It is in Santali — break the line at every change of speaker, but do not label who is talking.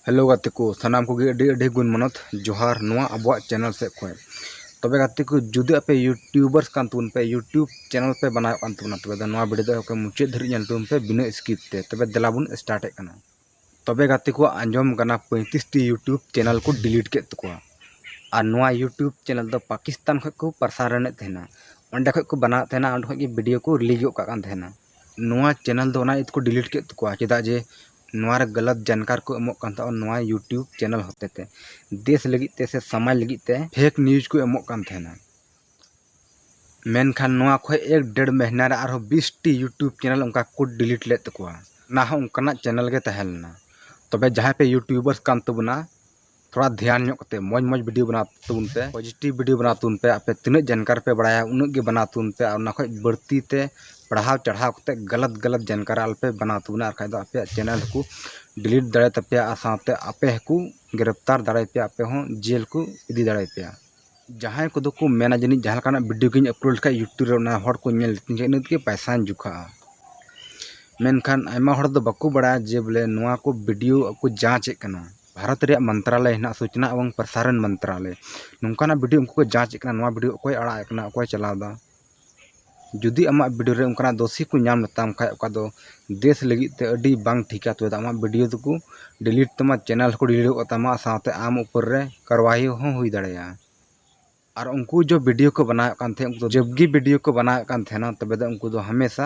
ᱦᱮᱞᱳ ᱜᱟᱛᱮ ᱠᱚ ᱥᱟᱱᱟᱢ ᱠᱚᱜᱮ ᱟᱹᱰᱤ ᱟᱹᱰᱤ ᱜᱩᱱ ᱢᱟᱱᱚᱛ ᱡᱚᱦᱟᱨ ᱱᱚᱣᱟ ᱟᱵᱚᱣᱟᱜ ᱪᱮᱱᱮᱞ ᱥᱮᱫ ᱠᱷᱚᱱ ᱛᱚᱵᱮ ᱜᱟᱛᱮ ᱠᱚ ᱡᱩᱫᱤ ᱟᱯᱮ ᱤᱭᱩᱴᱤᱭᱩᱵᱟᱨᱥ ᱠᱟᱱ ᱛᱟᱵᱚᱱ ᱯᱮ ᱤᱭᱩᱴᱤᱭᱩᱵᱽ ᱪᱮᱱᱮᱞ ᱯᱮ ᱵᱮᱱᱟᱣᱮᱫ ᱠᱟᱱ ᱛᱟᱵᱚᱱᱟ ᱛᱚᱵᱮ ᱫᱚ ᱱᱚᱣᱟ ᱵᱷᱤᱰᱤᱭᱳ ᱫᱚ ᱢᱩᱪᱟᱹᱫ ᱫᱷᱟᱹᱨᱤᱡ ᱧᱮᱞ ᱛᱟᱵᱚᱱ ᱯᱮ ᱵᱤᱱᱟᱹ ᱥᱠᱤᱯ ᱛᱮ ᱛᱚᱵᱮ ᱫᱮᱞᱟ ᱵᱚᱱ ᱥᱴᱟᱨᱴᱮᱫ ᱠᱟᱱᱟ ᱛᱚᱵᱮ ᱜᱟᱛᱮ ᱠᱚ ᱟᱸᱡᱚᱢ ᱠᱟᱱᱟ ᱯᱚᱸᱭᱛᱨᱤᱥ ᱴᱤ ᱤᱭᱩᱴᱩᱵᱽ ᱪᱮᱱᱮᱞ ᱠᱚ ᱰᱤᱞᱤᱴ ᱠᱮᱫ ᱛᱟᱠᱚᱣᱟ ᱟᱨ ᱱᱚᱣᱟ ᱤᱭᱩᱴᱩᱵᱽ ᱪᱮᱱᱮᱞ ᱫᱚ ᱯᱟᱠᱤᱥᱛᱟᱱ ᱠᱷᱚᱱ ᱠᱚ ᱯᱨᱚᱥᱟᱨᱚᱱ ᱮᱫ ᱛᱟᱦᱮᱱᱟ ᱚᱸᱰᱮ ᱠᱷᱚᱱ ᱠᱚ ᱵᱮᱱᱟᱣ ᱮᱫ ᱛᱟᱦᱮᱱᱟ ᱚᱸᱰᱮ ᱠᱷᱚᱱ ᱜᱮ ᱵᱷᱤᱰᱤᱭᱳ ᱠᱚ ᱨᱤᱞᱤᱡᱽ ᱜᱚᱫ ᱠᱟᱜ ᱠᱟᱱ ᱛᱟᱦᱮᱱᱟ ᱱᱚᱣᱟ ᱪᱮᱱᱮᱞ ᱫᱚ ᱚᱱᱟ ᱤᱭᱟᱹ ᱛᱮᱠᱚ ᱰᱤᱞᱤᱴ ᱠᱮᱫ ᱛᱟᱠᱚᱣᱟ ᱪᱮᱫᱟᱜ ᱡᱮ ᱱᱚᱣᱟ ᱨᱮ ᱜᱟᱞᱟᱛ ᱡᱟᱱᱠᱟᱨ ᱠᱚ ᱮᱢᱚᱜ ᱠᱟᱱ ᱛᱟᱦᱮᱱᱟ ᱱᱚᱣᱟ ᱤᱭᱩᱴᱩᱵᱽ ᱪᱮᱱᱮᱞ ᱦᱚᱛᱮᱛᱮ ᱫᱮᱥ ᱞᱟᱹᱜᱤᱫ ᱛᱮ ᱥᱮ ᱥᱚᱢᱟᱡᱽ ᱞᱟᱹᱜᱤᱫ ᱛᱮ ᱯᱷᱮᱠ ᱱᱤᱭᱩᱡᱽ ᱠᱚ ᱮᱢᱚᱜ ᱠᱟᱱ ᱛᱟᱦᱮᱱᱟ ᱢᱮᱱᱠᱷᱟᱱ ᱱᱚᱣᱟ ᱠᱷᱚᱡ ᱮᱠ ᱰᱮᱲ ᱢᱟᱹᱦᱱᱟᱹ ᱨᱮ ᱟᱨᱦᱚᱸ ᱵᱤᱥ ᱴᱤ ᱭᱩᱴᱩᱵᱽ ᱪᱮᱱᱮᱞ ᱚᱱᱠᱟ ᱠᱚ ᱰᱤᱞᱤᱴ ᱞᱮᱫ ᱛᱟᱠᱚᱣᱟ ᱚᱱᱟ ᱦᱚᱸ ᱚᱱᱠᱟᱱᱟᱜ ᱪᱮᱱᱮᱞ ᱜᱮ ᱛᱟᱦᱮᱸ ᱞᱮᱱᱟ ᱛᱚᱵᱮ ᱡᱟᱦᱟᱸᱭ ᱯᱮ ᱭᱩᱴᱩᱵᱟᱨᱥ ᱠᱟᱱ ᱛᱟᱵᱚᱱᱟ ᱛᱷᱚᱲᱟ ᱫᱷᱮᱭᱟᱱ ᱧᱚᱜ ᱠᱟᱛᱮ ᱢᱚᱡᱽ ᱢᱚᱡᱽ ᱵᱷᱤᱰᱤᱭᱳ ᱵᱮᱱᱟᱣ ᱛᱟᱵᱚᱱ ᱯᱮ ᱯᱚᱡᱤᱴᱤᱵᱽ ᱵᱷᱤᱰᱤᱭᱳ ᱵᱮᱱᱟᱣ ᱛᱟᱵᱚᱱ ᱯᱮ ᱟᱯᱮ ᱛᱤᱱᱟᱹᱜ ᱡᱟᱱᱠᱟᱨ ᱯᱮ ᱵᱟᱲᱟᱭᱟ ᱩᱱᱟᱹᱜ ᱜᱮ ᱵᱮᱱᱟᱣ ᱛᱟᱵᱚᱱ ᱯᱮ ᱟᱨ ᱚᱱᱟ ᱠᱷᱚᱡ ᱵᱟᱹᱲᱛᱤ ᱛᱮ ᱯᱟᱲᱦᱟᱣ ᱪᱟᱲᱦᱟᱣ ᱠᱟᱛᱮ ᱜᱟᱞᱟᱛ ᱜᱟᱞᱟᱛ ᱡᱟᱱᱠᱟᱨ ᱟᱞᱚ ᱯᱮ ᱵᱮᱱᱟᱣ ᱛᱟᱵᱚᱱᱟ ᱟᱨ ᱠᱷᱟᱡ ᱫᱚ ᱟᱯᱮᱭᱟᱜ ᱪᱮᱱᱮᱞ ᱦᱚᱸᱠᱚ ᱰᱤᱞᱤᱴ ᱫᱟᱲᱮᱭᱟᱛᱟ ᱯᱮᱭᱟ ᱟᱨ ᱥᱟᱶᱛᱮ ᱟᱯᱮ ᱦᱚᱸᱠᱚ ᱜᱨᱮᱯᱛᱟᱨ ᱫᱟᱲᱮᱭᱟᱯᱮᱭᱟ ᱟᱯᱮ ᱦᱚᱸ ᱡᱮᱞ ᱠᱚ ᱤᱫᱤ ᱫᱟᱲᱮᱭᱟᱯᱮᱭᱟ ᱡᱟᱦᱟᱸᱭ ᱠᱚᱫᱚ ᱠᱚ ᱢᱮᱱᱟ ᱡᱟᱹᱱᱤᱡ ᱡᱟᱦᱟᱸ ᱞᱮᱠᱟᱱᱟᱜ ᱵᱷᱤᱰᱤᱭᱳ ᱜᱮᱧ ᱟᱯᱞᱳᱰ ᱞᱮᱠᱷᱟᱡ ᱤᱭᱩᱴᱩᱵᱽ ᱨᱮ ᱚᱱᱟ ᱦᱚᱲ ᱠᱚ ᱧᱮᱞ ᱛᱤᱧ ᱠᱷᱟᱡ ᱤᱱᱟᱹ ᱛᱮᱜᱮ ᱯᱚᱭᱥᱟᱧ ᱡᱚᱠᱷᱟᱜᱼᱟ ᱢᱮᱱᱠᱷᱟᱱ ᱟᱭᱢᱟ ᱦᱚᱲ ᱫᱚ ᱵᱟᱠᱚ ᱵᱟᱲᱟᱭᱟ ᱡᱮ ᱵᱚᱞᱮ ᱱᱚᱣᱟ ᱠᱚ ᱵᱷᱤᱰᱤᱭᱳ ᱠᱚ ᱡᱟᱡᱽ ᱮᱜ ᱠᱟᱱᱟ ᱵᱷᱟᱨᱚᱛ ᱨᱮᱭᱟᱜ ᱢᱚᱱᱛᱨᱟᱞᱚᱭ ᱦᱮᱱᱟᱜᱼᱟ ᱥᱩᱪᱱᱟ ᱮᱵᱚᱝ ᱯᱨᱚᱥᱟᱨᱚᱱ ᱢᱚᱱᱛᱨᱟᱞᱚᱭ ᱱᱚᱝᱠᱟᱱᱟᱜ ᱵᱷᱤᱰᱤᱭᱳ ᱩᱱᱠᱩ ᱠᱚ ᱡᱟᱡᱽ ᱮᱜ ᱠᱟᱱᱟ ᱱᱚᱣᱟ ᱵᱷᱤᱰᱤᱭᱳ ᱚᱠᱚᱭ ᱟᱲᱟᱜ ᱮᱜ ᱠᱟᱱᱟ ᱚᱠᱚᱭ ᱪᱟᱞᱟᱣ ᱮᱫᱟ ᱡᱩᱫᱤ ᱟᱢᱟᱜ ᱵᱷᱤᱰᱤᱭᱳ ᱨᱮ ᱚᱱᱠᱟᱱᱟᱜ ᱫᱳᱥ ᱠᱚ ᱧᱟᱢ ᱞᱮᱛᱟᱢ ᱠᱷᱟᱱ ᱚᱠᱟ ᱫᱚ ᱫᱮᱥ ᱞᱟᱹᱜᱤᱫ ᱛᱮ ᱟᱹᱰᱤ ᱵᱟᱝ ᱴᱷᱤᱠᱟ ᱛᱚᱵᱮ ᱫᱚ ᱟᱢᱟᱜ ᱵᱷᱤᱰᱤᱭᱳ ᱫᱚᱠᱚ ᱰᱤᱞᱤᱴ ᱛᱟᱢᱟ ᱪᱮᱱᱮᱞ ᱦᱚᱸᱠᱚ ᱰᱤᱞᱤᱴ ᱜᱚᱫ ᱠᱟᱛᱟᱢᱟ ᱥᱟᱶᱛᱮ ᱟᱢ ᱩᱯᱚᱨ ᱨᱮ ᱠᱟᱨᱣᱟᱭᱤ ᱦᱚᱸ ᱦᱩᱭ ᱫᱟᱲᱮᱭᱟᱜᱼᱟ ᱟᱨ ᱩᱱᱠᱩ ᱡᱮ ᱵᱷᱤᱰᱤᱭᱳ ᱠᱚ ᱵᱮᱱᱟᱣᱮᱫ ᱠᱟᱱ ᱛᱟᱦᱮᱸᱫ ᱩᱱᱠᱩ ᱫᱚ ᱡᱚᱵᱽ ᱜᱮ ᱵᱷᱤᱰᱤᱭᱳ ᱠᱚ ᱵᱮᱱᱟᱣᱮᱫ ᱠᱟᱱ ᱛᱟᱦᱮᱱᱟ ᱛᱚᱵᱮ ᱫᱚ ᱩᱱᱠᱩ ᱫᱚ ᱦᱟᱢᱮᱥᱟ